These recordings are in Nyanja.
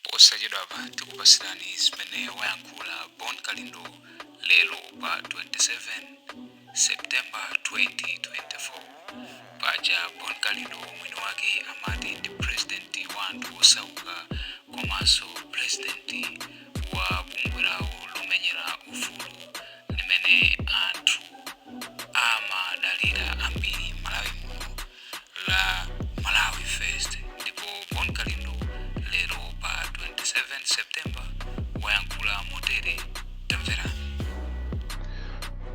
posachedwapa tikupasirani zimene wayankhula bon kalindo lero pa 27 september 2024 paja bon kalindo mwini wake amati ndi purezidenti wa anthu osauka komanso purezidenti wa bungwe lawo lomenyera ufulu limene anthu amadalira ambiri malawi muno la Malawi First ndipo Bon Kalindo lero pa 27 September wayankhula motere tamverani.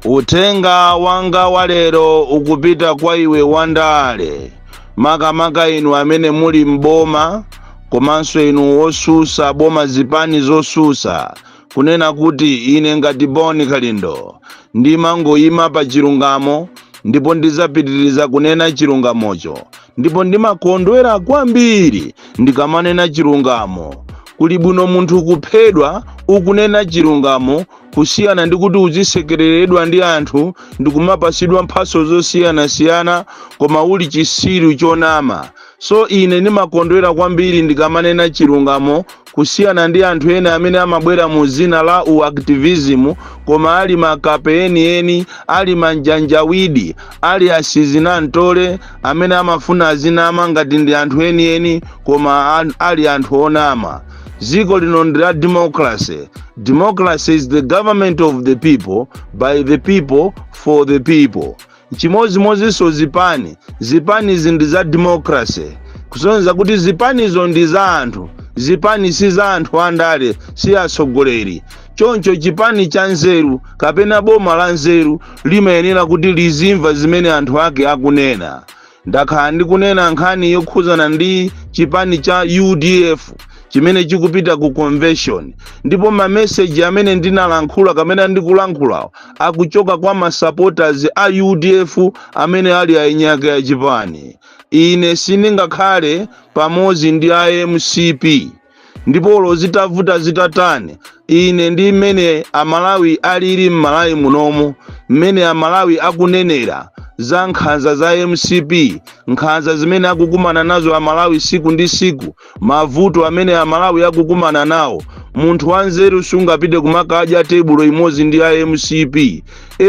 Uthenga wanga wa lero ukupita kwa iwe wandale makamaka inu amene muli m'boma komanso inu osusa boma zipani zosusa kunena kuti ine ngati bon kalindo ndimangoyima pa chilungamo ndipo ndizapitiriza kunena chilungamocho ndipo ndimakondwera kwambiri ndikamanena chilungamo kuli bwino munthu kuphedwa ukunena chilungamo kusiyana ndi kuti uzisekereredwa ndi anthu ndikumapasidwa mphaso zosiyanasiyana koma uli chisiru chonama So ine ndimakondwera kwambiri ndikamanena chilungamo kusiyana ndi anthu ena amene amabwera mu dzina la u activism koma ali makape enieni, ali manjanjawidi, ali asizinantole amene amafuna azinama ngati ndi anthu enieni koma an- ali anthu onama. Dziko lino ndi la democracy. Democracy is the government of the people, by the people, for the people. Nchimozimozinso zipani. Zipanizi ndi za democracy, kusonyeza kuti zipanizo ndi za anthu. Zipani si za anthu andale, si atsogoleri. Choncho chipani chanzeru kapena boma lanzeru limayenera kuti lizimva zimene anthu ake akunena. ndakhala ndikunena nkhani yokhuzana ndi chipani cha udf chimene chikupita ku convention ndipo mameseji amene ndinalankhula kapena ndikulankhulawa akuchoka kwa masupporters a udf amene ali eni ake a chipani ine sindingakhale pamodzi ndi a mcp ndipo olo zitavuta zitatani ine ndi mmene amalawi alili mmalawi munomu mmene amalawi akunenera za nkhanza za mcp nkhanza zimene akukumana nazo amalawi siku ndi siku mavuto amene amalawi akukumana nawo munthu wanzeru sungapite kumakadya tebulo imodzi ndi a mcp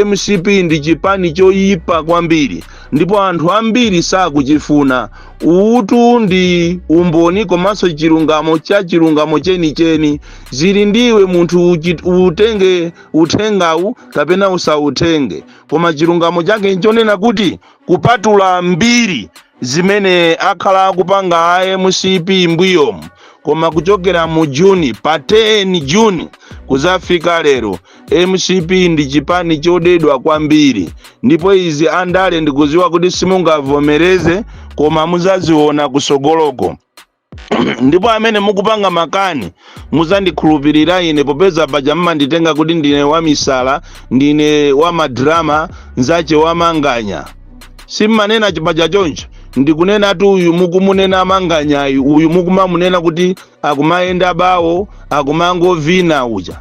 mcp ndi chipani choyipa kwambiri ndipo anthu ambiri sakuchifuna uwu tu ndi umboni komanso chilungamo cha chilungamo chenicheni zili ndiwe munthu uchit- utenge uthengawu kapena usautenge koma chilungamo chake nchonena kuti kupatula mbiri zimene akhala akupanga a mcp mbuyomu koma kuchokera mu juni pa 10 juni kuzafika lero mcp ndi chipani chodedwa kwambiri ndipo izi andale ndikuziwa kuti simungavomereze koma muzaziona kusogoloko ndipo amene mukupanga makani muzandikhulupirira ine popeza paja mumanditenga kuti ndine wamisala ndine wamadrama nzache wamanganya simmanena paja choncho ndikunena tu uyu mukumunena manganyayi uyu mukumamunena kuti akumayenda bawo akumangovina uja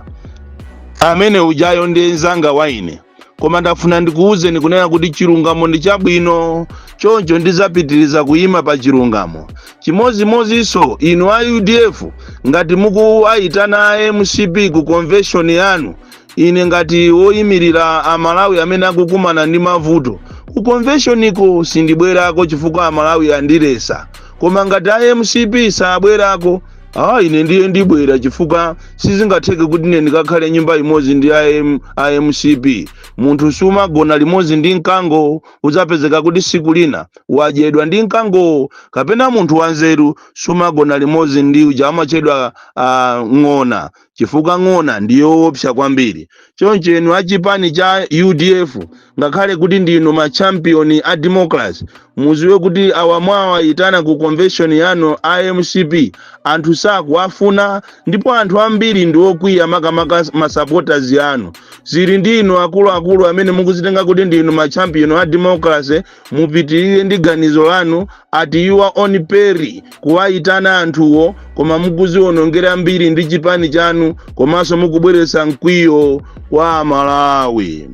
amene ujayo ndi mzanga wa ine koma ndafuna ndikuwuzeni kunena kuti chilungamo ndi chabwino choncho ndizapitiriza kuyima pa chilungamo chimodzimodzinso inu a udf ngati mukuwayitana a mcp ku convention yanu Ine ngati woyimirira Amalawi amene akukumana ndi mavuto, ku convention ko sindibwerako chifukwa Amalawi andiletsa. Koma ngati a mcp sabwerako, ah ine ndiye ndibwera chifukwa sizingatheke kuti ine ndikakhale nyumba imodzi ndi a M- a mcp. Munthu sumagona limodzi ndi mkango, udzapezeka kuti siku lina wadyedwa ndi mkangowo. Kapena munthu wanzeru sumagona limodzi ndi uja amatchedwa ah, ng'ona. chifukwa ng'ona ndi yoopsa kwambiri. Choncho inu a chipani cha udf ngakhale kuti ndinu ma champion a democracy muziwe kuti awa mwawayitana ku convention yanu a mcp anthu sakuwafuna ndipo anthu ambiri ndi okwiya makamaka ma supporters anu. Zili ndi inu akuluakulu amene mukuzitenga kuti ndinu ma champion a democracy mupitirire ndi ganizo lanu ati your own peril kuwayitana anthuwo koma mukuziwonongera mbiri ndi chipani chanu komanso mukubweretsa mkwiyo kwa amalawi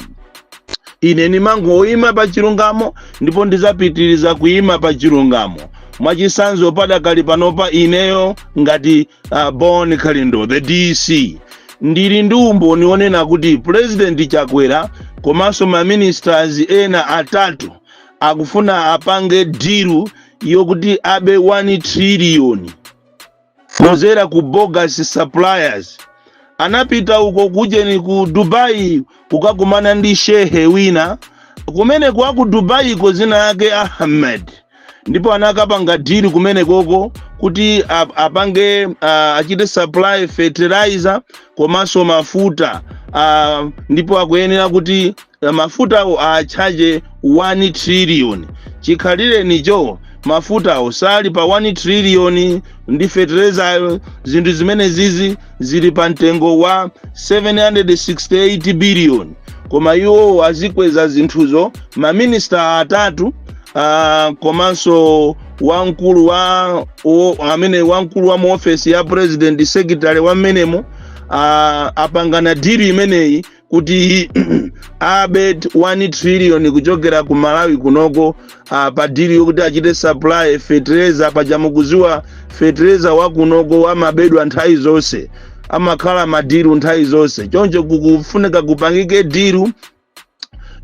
ine ndimangoyima pa chilungamo ndipo ndizapitiriza kuyima pa chilungamo mwachitsanzo padakali panopa ineyo ngati bon kalindo the dc ndili ndi umboni onena kuti pulezidenti chakwera komanso maministers ena atatu akufuna apange deal yokuti abe 1 triliyoni kudzera ku bogus suppliers anapita uko kujeni ku dubai kukakumana ndi shehe wina kumene kwa ku dubai ko zina yake ahmed ndipo anakapanga diru kumenekoko kuti ap- apange ah, achite supply fertilizer komanso mafuta ah, ndipo akuyenera kuti ah, mafutawo achaje 1 trillion chikhalirenicho mafutawo sali pa 1 trillion ndi fertilizeryo zinthu zimene zizi zili pa mtengo wa 768 biliyoni koma iwo azikweza zinthuzo maminista atatu uh, komanso wamkulu wa o, amene wamkulu wa muofesi ya president secretary wa mmenemo uh, apangana diru imeneyi kuti abe 1 trillion kuchokera ku malawi kunoko uh, pa diru yokuti achite supply fetereza paja mukuziwa fetereza wa kunoko amabedwa nthawi zonse amakhala madiru nthawi zonse choncho kukufunika kupangike diru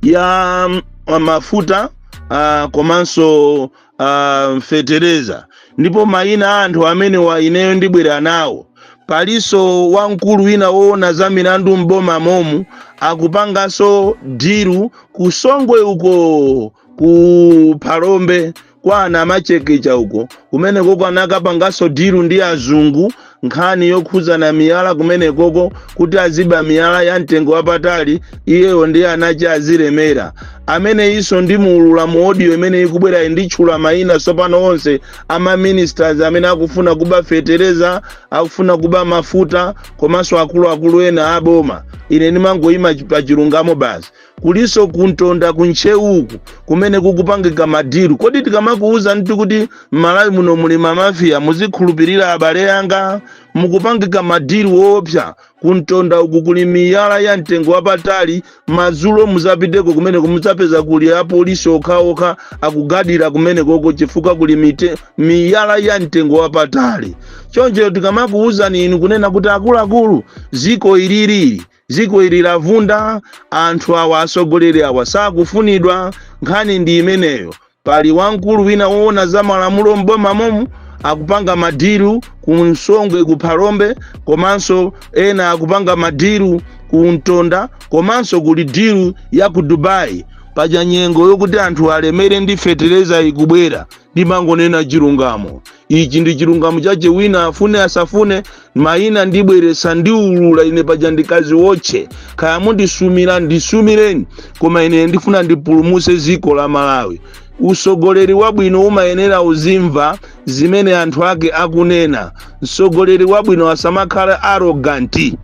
ya mm, mafuta uh, komanso uh, fetereza ndipo mayina a anthu amenewa ineyo ndibwera nawo palinso wamkulu wina woona za milandu m'boma momu akupanganso diru ku songwe uko ku phalombe kwa anamachekecha uko kumenekoko anakapanganso diru ndi azungu nkhani yokhudza za miyala kumenekoko kuti aziba miyala ya mtengo wapatali iyeyo ndi anache azilemera ameneyinso ndimuulula mu audio imene ikubwerayi nditchula mayina tsopano onse a maministers amene akufuna kuba fetereza akufuna kuba mafuta komanso akuluakulu ena aboma ine ndimangoyima pa chilungamo basi kulinso ku ntonda ku ntcheu uku kumene kukupangika madiru kodi tikamakuwuzani kuti m'malawi muno muli mamafiya muzikhulupirira abale anga mukupangika madiru woopsa ku ntonda uku kuli miyala ya mtengo wapatali madzulo muzapiteko kumeneko mudzapeza kuli apolisi okhaokha akugadira kumenekoko chifukwa kuli mite, miyala ya mtengo wapatali choncho tikamakuwuzani inu kunena kuti akuluakulu ziko ililili dziko ili lavunda anthu awa atsogoleri awa sakufunidwa nkhani ndi imeneyo pali wamkulu wina woona za malamulo m'boma momu akupanga madiru ku songwe ku phalombe komanso ena akupanga madiru ku ntonda komanso kuli diru ya ku dubai paja nyengo yokuti anthu alemere ndi fetereza ikubwera ndimangonena chilungamo ichi ndi chilungamo chache wina afune asafune maina ndibweretsa ndiulula ine paja ndi kadziwotche kaya mundisumira ndisumireni koma ine ndifuna ndipulumutse dziko la malawi usogoleri wabwino umayenera uzimva zimene anthu ake akunena msogoleri wabwino asamakhala arrogant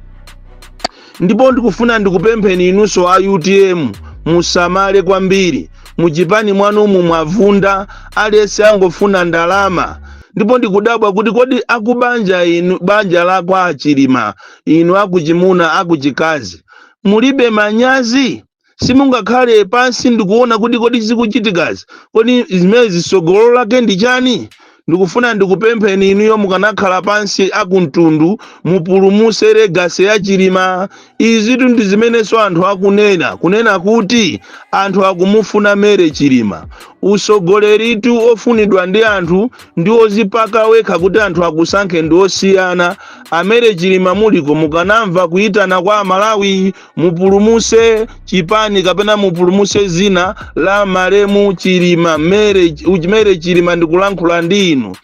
ndipo ndikufuna ndikupempheni inunso a utm musamale kwambiri muchipani mwanumu mwavunda aliyense angofuna ndalama ndipo ndikudabwa kuti kodi akubanja inu banja lakwa achilima inu akuchimuna akuchikazi mulibe manyazi simungakhale pansi ndikuona kuti kodi zikuchitikazi kodi zimenezi sogolo lake ndi chani ndikufuna ndikupempheni inuyo mukanakhala pansi akumtundu mupulumuse legacy ya chilima izitu ndi zimenenso anthu akunena kunena kuti anthu akumufuna Mary chilima usogoleritu ofunidwa ndi anthu ndi ozipaka wekha kuti anthu akusankhe ndi osiyana a Mary chilima muliko mukanamva kuyitana kwa amalawi mupulumuse chipani kapena mupulumuse zina la malemu chilima Mary, Mary chilima ndikulankhula ndi inu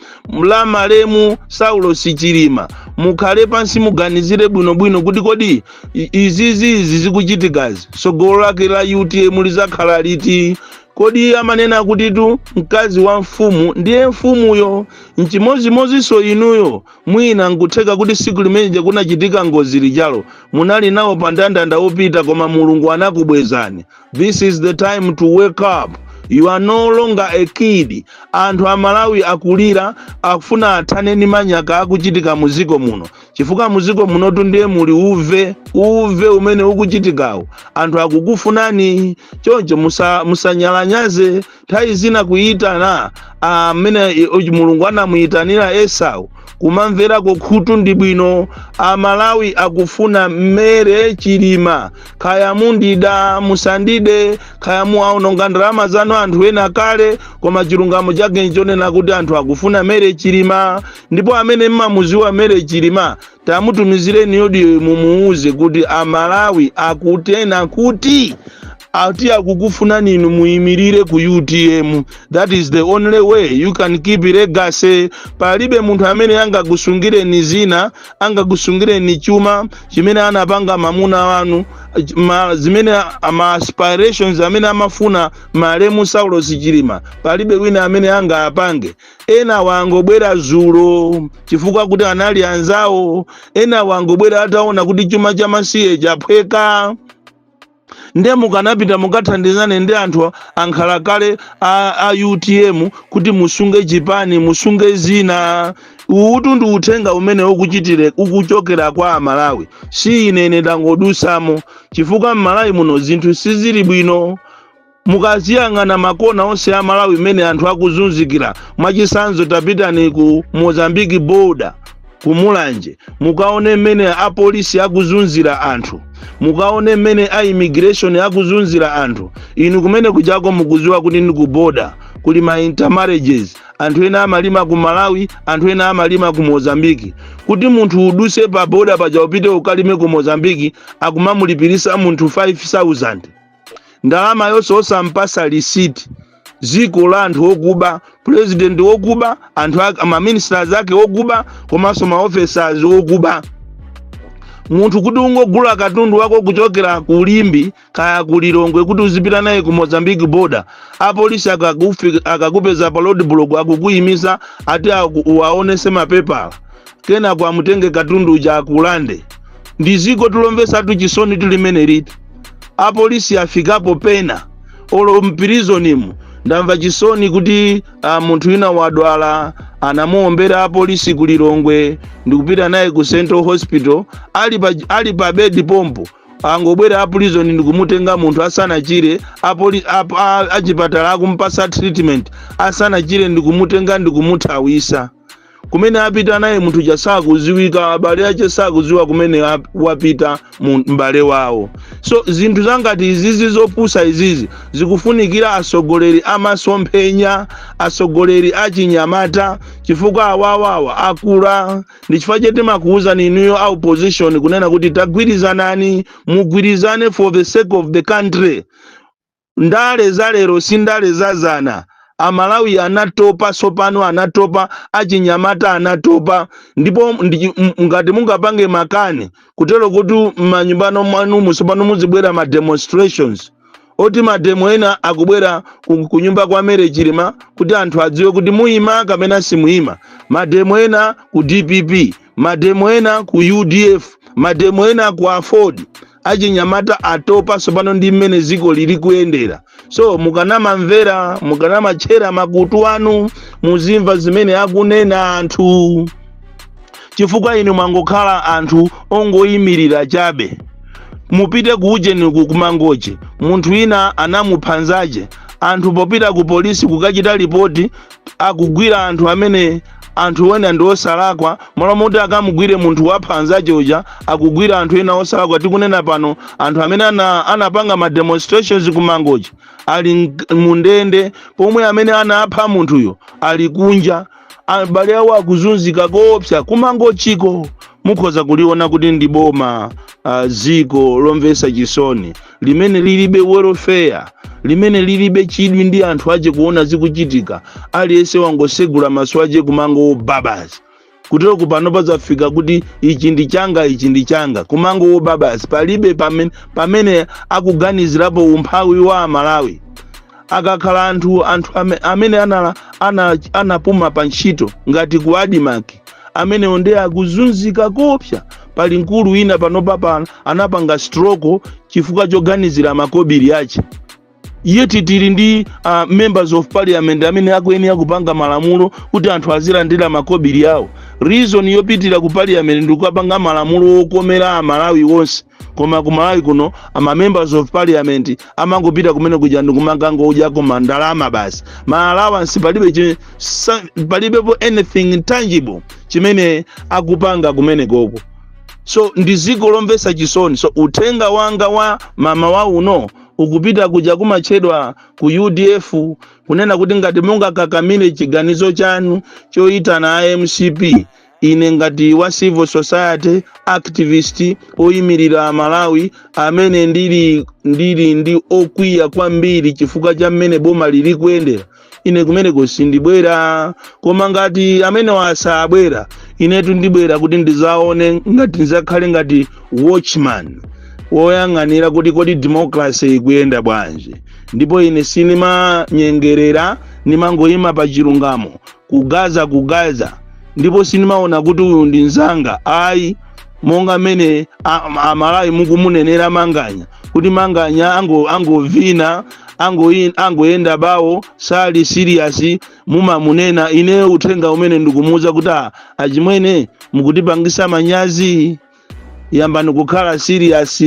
la malemu saulosi chilima mukhale pansi muganizire bwinobwino kuti kodi i- izizi izi zikuchitikazi tsogolo lake la utm lizakhala liti kodi amanena kutitu mkazi wa mfumu ndiye mfumuyo nchimodzimodzinso inuyo Mwina nkutheka kuti siku limene lija kunachitika ngozi lijalo munali nawo pa ndandanda opita koma Mulungu anakubwezani. This is the time to wake up. You are no longer a kid. Anthu Amalawi akulira akufuna athane ndi manyaka akuchitika mu dziko muno. Chifukwa mu dziko munotu ndiye muli uve, uve umene ukuchitikawo. Anthu akukufunani. Choncho musa, musanyalanyaze nthawi zina kuyitana mmene mulungu anamuyitanira esau kumamverako khutu ndi bwino amalawi akufuna Mary chilima kaya mundida musandide kaya mwaononga ndalama zanu anthu ena kale koma chilungamo chake nchonena kuti anthu akufuna Mary chilima ndipo amene mmamuziwa Mary chilima tamutumizireni audio mumuwuze kuti amalawi akunena kuti ati akukufunani inu muyimirire ku utm that is the only way you can keep legacy palibe munthu amene angakusungireni zina angakusungireni chuma chimene anapanga mamuna wanu ma, zimene ma aspirations amene amafuna malemu saulos chilima palibe wina amene angaapange enawa angobwera zulo chifukwa kuti anali anzawo enawa angobwera ataona kuti chuma cha masiye chaphweka nde mukanapita mukathandizane ndi anthu ankhalakale a, a utm kuti musunge chipani musunge zina uwutu ndi uthenga umene ukuchitire ukuchokera kwa amalawi si ine ine ndangodusamo chifukwa mmalawi muno zinthu sizili bwino mukaziyang'ana makona onse a malawi mmene anthu akuzunzikira mwachitsanzo tapitani ku mozambique border ku mulanje mukaone mmene apolisi akuzunzira anthu mukaone mmene a immigration akuzunzira anthu inu kumene kujaku mukuziwa kuti ndi ku border kuli ma intermarriages anthu ena amalima ku malawi anthu ena amalima ku mozambiki kuti munthu uduse pa boda paja upite ukalime ku mozambiki akumamulipirisa munthu 5000 ndalama yonse osampasa lisiti dziko la anthu okuba pulezidenti okuba anthu ake maministers ake okuba komanso maofesers okuba munthu kuti ungogula katundu wako kuchokera ku limbe kaya ku lilongwe kuti uzipita naye ku mozambique border apolisi akakufi- akakupeza pa roadblock akukuyimisa ati aku- uwaonese mapepala kenako amutenge katundu uja akulande ndiziko tu lomvesatu chisoni tu limeneli ati apolisi afikapo pena olo mpirizonimu ndamva chisoni kuti uh, munthu wina wadwala anamuombera apolisi ku lilongwe ndikupita naye ku central hospital ali pa, ali pa bedi pompo angobwera apirizoni ndikumutenga munthu asanachire apoli, ap, a, achipatala akumpasa treatment asanachire ndikumutenga ndikumuthawisa kumene apita naye munthu uja sakuziwika abale ache sakuziwa kumene ap- wapita mu- m'bale wawo so zinthu zangati izizi zopusa izizi zikufunikira atsogoleri amasomphenya atsogoleri achinyamata chifukwa awawawa akula ndi chifukwa chake timakuwuzani inuyo a opposition kunena kuti tagwirizanani mugwirizane for the sake of the country Ndale za lero si ndale za zana. Amalawi anatopa tsopano, anatopa, achinyamata anatopa. Ndipo ndi, ngati mungapange makani kutero kuti manyumbano mwanumu tsopano muzibwera ma demonstrations oti mademo ena akubwera kunyumba kwa Mary Chilima kuti anthu adziwe kuti muima kapena simuima, mademo ena ku DPP, mademo ena ku UDF, mademo ena ku Aford. achinyamata atopa tsopano ndi mmene dziko lili kuyendera so mukanamamvera mukanamatchera makutu anu muzimva zimene akunena anthu chifukwa inu mwangokhala anthu ongoyimirira chabe mupite ku ujeni ku kumangochi munthu wina anamupha nzache anthu popita ku polisi kukachita lipoti akugwira anthu amene anthu wena ndi osalakwa mmalo moti akamugwire munthu wapha anzache uja akugwira anthu ena osalakwa tikunena pano anthu amene ana, anapanga ma demonstrations kumangochi ali mk- mundende pomwe amene anapha munthuyo ali kunja abale awo akuzunzika koopsa kumangochiko mukhoza kuliona kuti ndi boma ah, dziko lomvetsa chisoni limene lilibe welfare limene lilibe chidwi ndi anthu ache kuona zikuchitika aliyense wangosegula maso ache kumangowoba basi kutero ku pano pazafika kuti ichi ndi changa ichi ndi changa kumangowoba basi palibe pamene, pamene akuganizirapo umphawi wa amalawi akakhala anthu anthu ame- amene anala- ana- anapuma pa ntchito ngati ku admarc amenewo nde akuzunzika koopsa pali mkulu wina panopa pano anapanga stroke chifukwa choganizira makobiri ache yet tili ndi uh, members of parliament amene akuyenera kupanga malamulo kuti anthu azilandira makobiri awo reason yopitira ku parliament ndikukapanga malamulo okomera amalawi onse koma ku malawi kuno ama members of parliament amangopita kumene kuja ndikumakangodyako ma ndalama basi ma allowance palibe chi- sa- palibepo anything tangible chimene akupanga kumene koko so ndi dziko lomvetsa chisoni so uthenga wanga wa mmawa uno ukupita kuja kumatchedwa ku udf kunena kuti ngati mungakakamire chiganizo chanu choyitana a mcp Ine ngati wa civil society activist oyimirira Amalawi amene ndili ndili ndi wokwiya kwambiri chifukwa cha mmene boma lili kuyendera ine kumeneko sindibwera koma ngati amenewa sabwera inetu ndibwera kuti ndizaone ngati ndizakhale ngati watchman woyang'anira kuti kodi democracy ikuyenda bwanji ndipo ine sinimanyengerera nimangoyima pa chilungamo ku gaza ku gaza ndipo sindimaona kuti uyu ndi mzanga ayi monga mmene a- a- amalawi mukumunenera manganya kuti manganya ango- angovina angoyi- angoyenda bawo sali serious mumamunena ine uthenga umene ndikumuwuza kuti "Ah, achimwene mukutipangisa manyazi yambani kukhala serious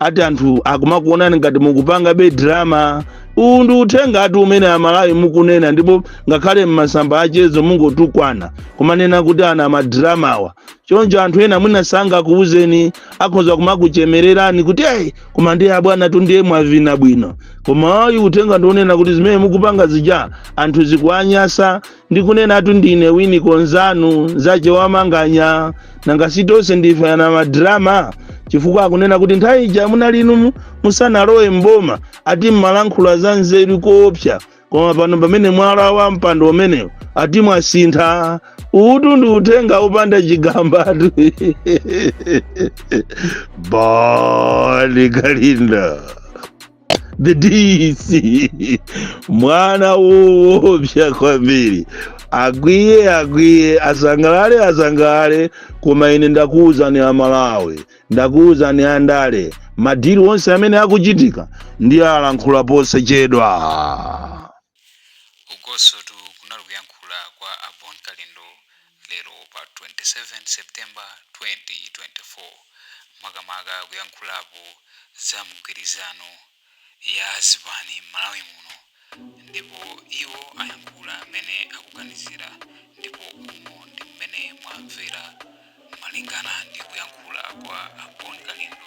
ati anthu akumakuonani ngati mukupangabe drama uwu ndi uthenga ati umene amalawi mukunena ndipo ngakhale m'masamba achezo mukungotukwana kumanena kuti anamadramawa choncho anthu ena mwina sangakuwuzeni akhoza kumakuchemererani kuti eyi koma ndiye abwanatu ndiye mwavina bwino koma ayi uthenga ndi wonena kuti zimene mukupanga zija anthu zikuanyasa ndikunenatu ndine winiko nzanu nzache wa manganya nanga si tonse ndife anamadrama chifukwa akunena kuti nthawi ija munali inu musanalowe mboma ati mmalankhula za nzeru koopsa koma pano pamene mwalawa mpando umenewu ati mwasintha uwutu ndi uthenga wopanda chigambatu bon kalindo the DC mwana woopsa kwambiri akwiye akwiye asangalale asangalale koma ine ndakuwuzani amalawi ndakuwuzani andale madili onse amene akuchitika ndiyalankhula posachedwa Ukotu kunali kuyankhula kwa a Bon Kalindo lero pa 27 September 2024 makamaka kuyankhulapo za mgwirizano ya zipani m'Malawi muno ndipo iwo ayankhula m'mene akuganizira ndipo umo ndi m'mene mwamvera malingana ndi kuyankhula kwa a Bon Kalindo.